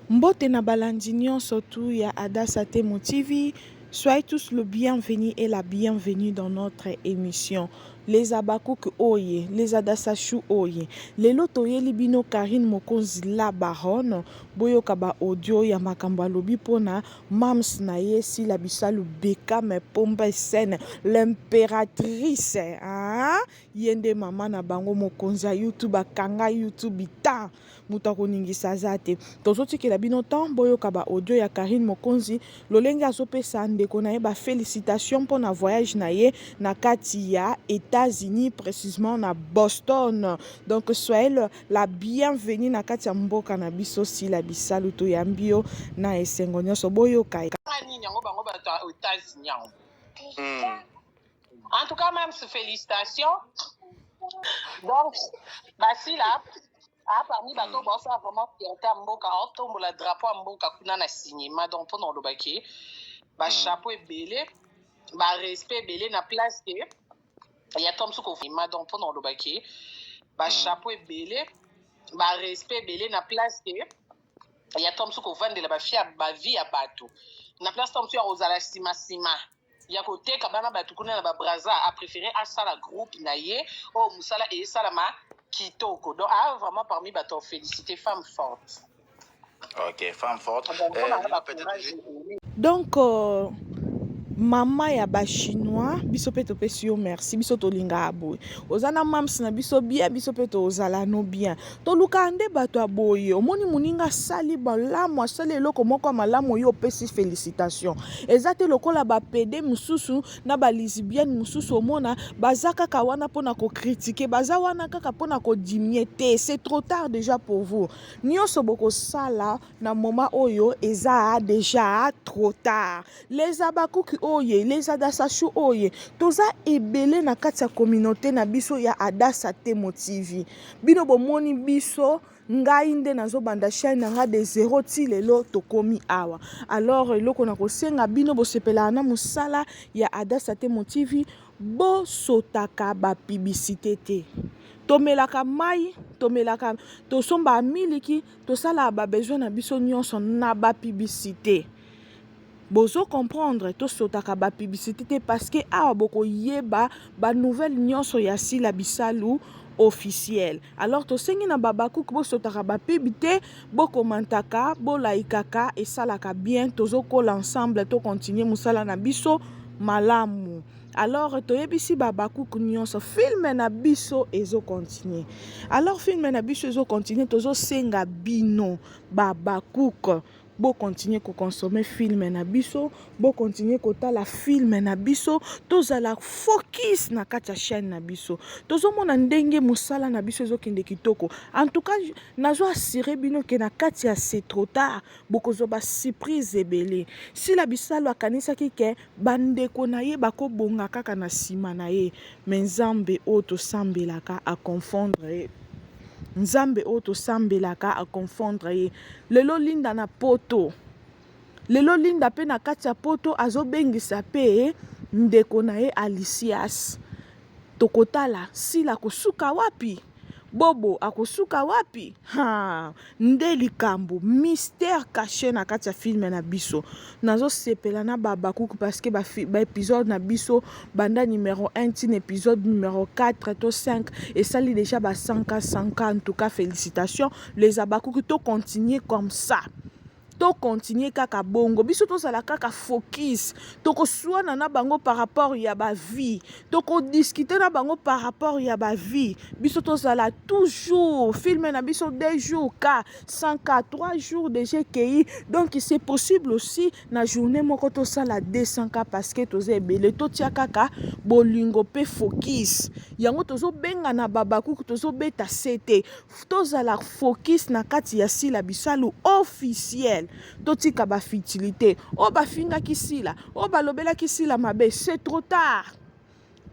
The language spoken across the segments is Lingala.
Mbote na balandi nionso tout ya Adassa Temo TV, soyez tous le bienvenu et la bienvenue dans notre emission les habacuc oye les adassa chou oye lelo toyeli bino Carine Mokonzi la baronne boyoka ba audio ya makambo alobi pona mams na ye Sila Bisalu Beckham Pombe Scène l'impératrice ah yende mama na bango mokonzi ya YouTube akanga YouTube temps Moto ya koningisa aza te. Tozo tikela bino temps boyoka ba audio ya Carine Mokonzi lolenge azo pesa ndeko na ye ba felicitations mpo na voyage na ye na kati ya Etats-Unis precisement na Boston. Donc soyez le, la bienvenue na kati ya mboka na biso Sila Bisalu toyambi yo na esengo nionso boyoka ye. Kaka nini yango bango bato ya Etats-Unis yango. En tout cas, même félicitations. Donc, Basila, ah, parmi hmm. bato baosa ah, vraiment fierté ya mboka aotombola ah, drapeau ya mboka kuna na cinéma donc mpo na olobaki bachapeau hmm. ebele barespect ebele na place te ya tom suku cinéma donc mpo na olobaki bachapeau hmm. ebele barespect ebele na place te ya tom suku ovandela bafia bavie ya bato na place tom suku ya kozala nsima nsima ya koteka bana bato kuna na babraza aprefere asala groupe na ye oyo oh, mosala esalama kitoko donc aa ah, vraiment parmi bato ya félicité femme forte ok femme forte ah, euh, donc euh, mama ya bachinois biso mpe topesi yo merci biso tolingaka boye oza na mams na biso bien biso mpe tozala no bien Tolukaka nde bato ya boye. Omoni moninga asali malamu, asali eloko moko ya malamu, oyo opesi felicitation. Eza te lokola ba pede mosusu na ba lisibienne mosusu, omona baza kaka wana mpona ko critiquer, baza wana kaka mpona ko diminuer te, c'est trop tard dejà pour vous. Nionso bokosala na moment oyo eza dejà trop tard. Les Habacuc oye, les Adasachou oye, toza ebele na kati ya communaute na biso ya Adasa Temo TV. Bino bomoni biso ngai nde nazobanda chaîne na ngai de zero ti lelo tokomi awa alors eloko na kosenga bino bosepelaka na mosala ya adasa te motivi bosotaka bapibisite te tomelaka mai tomelaka tosombaka miliki tosalaka babesoin na biso nyonso na bapibisite Bozo comprendre to sotaka ba publicite te parce que awa boko yeba ba nouvelle nionso ya Sila Bisalu officiel. Alors tosengi na Babakouk bosotaka ba pub te, bo commentaka, bo laikaka esalaka bien tozo kola ensemble to continuer musala na biso malamu. Alors toyebisi Babakouk nionso film na biso ezo continuer. Alors film na biso ezo continuer tozo senga bino Babakouk Bo continuer ko consommer film na biso, bo continuer kotala film na biso, tozala focus na kati ya chaine na biso. Tozo mona ndenge musala na biso ezo kende kitoko. En tout cas, nazo assurer bino que na kati ya c'est trop tard, bokozwa ba surprise ebele. Sila Bisalu akanisaki que ba ndeko na ye bako bonga kaka na sima na ye, mais Nzambe oyo tosambelaka a confondre ye. Nzambe oyo tosambelaka a confondre ye. lelo linda na poto lelo linda mpe na kati ya poto azobengisa mpe ndeko na ye alicias tokotala sila akosuka wapi bobo akosuka wapi ha nde likambo mystère caché na kati ya filme na biso nazosepela na babakuku parceke baepisode ba na biso banda numero 1 ntina episode numero 4 to 5 esali deja ba 100 100 en tout cas félicitation les abakuki to continuer comme ça to continuer kaka bongo biso tozala kaka focus tokoswana na bango par rapport ya bavie tokodiskute na bango par rapport ya bavie biso tozala toujours filme na biso deux jours ka sans ka trois jours deja ekei donc c'est possible aussi na journée moko tosala 200 ka parce que toza ebele totia kaka bolingo mpe focus yango tozobengana babakuku tozobeta sete Tozala focus na kati ya Sila Bisalu officiel. Totika ba futilite. Oyo bafingaki Sila, oyo balobelaki Sila mabe, c'est trop tard.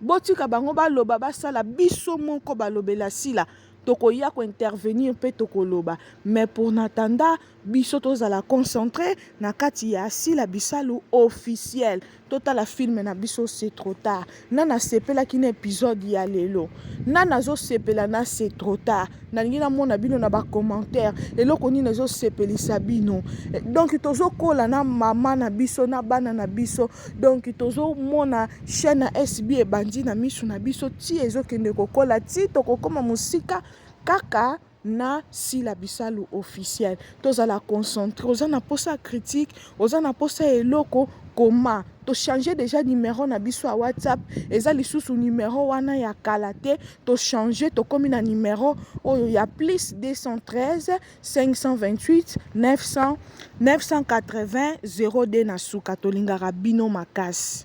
Botika bango baloba basala biso moko balobela Sila. Tokoya ko intervenir mpe tokoloba. Mais pour n'attendant, Biso tozala concentre na kati ya sila bisalu officiel totala film na biso c'est trop tard na nasepelaki na episode ya lelo na nazosepela na c'est trop tard nalingi namona bino na bacommentaire eloko nini ezosepelisa bino eh, donc tozokola na mama na biso na bana na biso donc tozomona chaîne ya sb ebandi na misu na biso ti ezokende kokola ti tokokoma mosika kaka na sila bisalu officiel tozala concentre oza na posa ya critique oza na posa ya eloko koma to change deja numero na biso ya whatsapp eza lisusu numero wana ya kala te to change tokomi na numero oyo ya plus 213 528 900 980 02 na suka tolingaka bino makasi